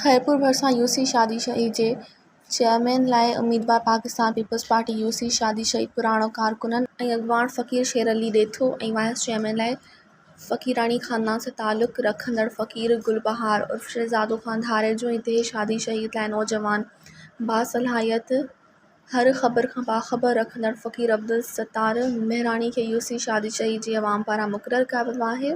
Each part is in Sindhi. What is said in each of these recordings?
خيرپور ڀرسان يو سي شادي شهيد جي چيئرمين لاء اميدوار Pakistan Peoples Party U C Shadi Shaheed پراڻو ڪارڪنن ۽ اڳواڻ فقير شير علي ڏيٿو ۽ وائيس چيئرمين لاء فقيراڻي خاندان سان تعلق رکندڙ فقير گل بهار عرف شهزادو خان ڌاريجو ۽ ديهه شادي شهيد لاء نوجوان باصلاحيت هر خبر کان باخبر رکندڙ فقير عبدالستار مهراڻي کي يو سي شادي شهيد جي عوام پاران مقرر ڪيو ويو آهي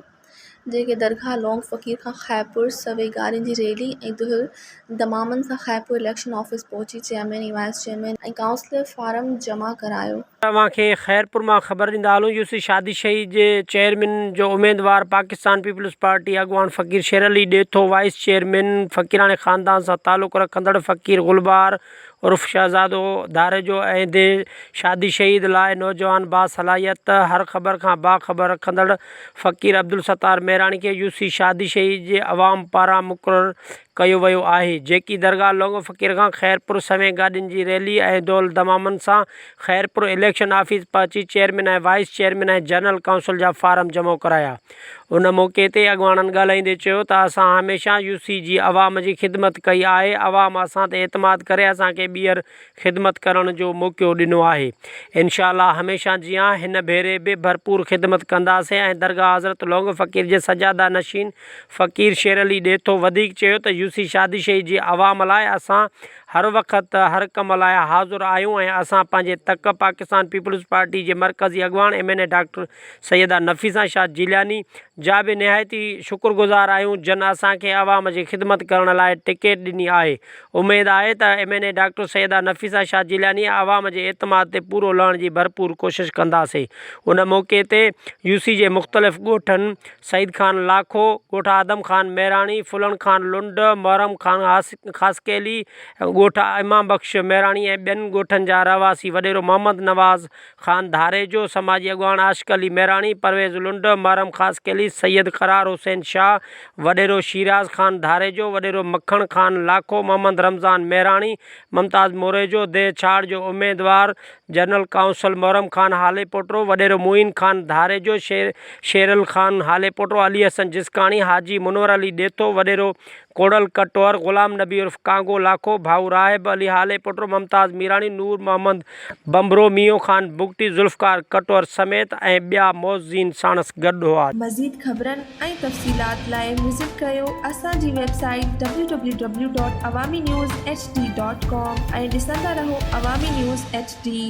جنهن کي درگاهه لونگ فقير کان خيرپور سوين گارين جي ريلي ۽ دهل دمامن سان خيرپور اليڪشن آفيس پهچي chairman ۽ vice chairman ۽ councillor form جمع ڪرايو. توهان کي خيرپور مان خبر ڏيندا هلون يوسف شادي شهيد جي چيئرمين جو اميدوار پاڪستان پيپلز پارٽي اڳواڻ فقير شير علي ڏيٿو وائيس چيئرمين فقيراڻي خاندان سان تعلق رکندڙ فقير گلبهار عرف شهزادو ڌاريجو اهدي شادي شهيد لاء نوجوان باصلاحيت هر خبر کان باخبر رکندڙ فقير عبدالستار مهراڻي کي يوسف شادي شهيد جي عوام پاران مقرر ڪيو ويو آهي جيڪي درگاهه لونگ فقير کان خيرپور سوين گاڏين جي ريلي ۽ ڍول دمامن سان خيرپور اليڪشن آفيس پهچي chairman ۽ vice chairman ۽ general council جا فارم جمع ڪرايا ان موقعي تي اڳواڻن ڳالهائيندي چيو ته اسان هميشه يو سي جي عوام جي خدمت ڪئي آهي عوام اسان تي اعتماد ڪري اسان کي ٻيهر خدمت ڪرڻ جو موقعو ڏنو آهي انشاء الله هميشه جيان هن ڀيري به ڀرپور خدمت ڪنداسين ۽ درگاهه حضرت لونگ فقير جي سجاده نشين فقير شيرعلي ڏيٿو وڌيڪ چيو ته يوسي شادشاهي جي عوام لاء اسان هر وقت هر ڪم لاء حاضر آهيون ۽ اسان پنهنجي تڪ پاڪستان پيپلز پارٽي جي مرڪزي اڳواڻ M N A doctor Syeda Nafisa Shah Jilani جا به نهايت ئي شڪرگذار آهيون جن اسان کي عوام جي خدمت ڪرڻ لاء ٽڪيٽ ڏني آهي اميد آهي ته M N A doctor Syeda Nafisa Shah Jilani عوام جي اعتماد تي پورو لهڻ جي ڀرپور ڪوشش ڪنداسين ان موقعي تي يوسي جي مختلف ڳوٺن سعيد خان لاکو، ڳوٺ آدم خان مهراڻي، ڦلڻ خان لنڊ، محرم خان خاصخيلي، ڳوٺ امام بخش مهراڻي ۽ ٻين ڳوٺن جا رهواسي، وڏيرو محمد نواز خان ڌاريجو، سماجي اڳواڻ عاشق علي مهراڻي، پرويز لنڊ، محرم خاصخيلي، سيد قرار حسين شاهه، وڏيرو شيراز خان ڌاريجو، وڏيرو مکڻ خان لاکو، محمد رمضان مهراڻي، ممتاز موريجو، ديهه ڇاڙ جو اميدوار جنرل قائونصل محرم خان هاليپوٽرو، وڏيرو معين خان ڌاريجو، شير شيرل خان هاليپوٽرو، علي حسن جسڪاڻي، حاجي منور علي ڏيٿو، وڏيرو ڪوڙل ڪٽوهر، غلام نبي عرف ڪانگو لاکو، ڀائو راهب علي هاليپوٽرو، ممتاز ميراڻي، نور محمد ڀنڀرو، مينهون خان بگٽي، ذوالفقار ڪٽوهر سميت ۽ ٻيا معززين ساڻس گڏ هئا. مزيد خبرن. ۽ تفصيلات لاء وزٽ ڪريو اسان جي website W W W dot Awami News H D dot com ۽ ڏسندا رهو عوامي نيوز ايڇ ڊي.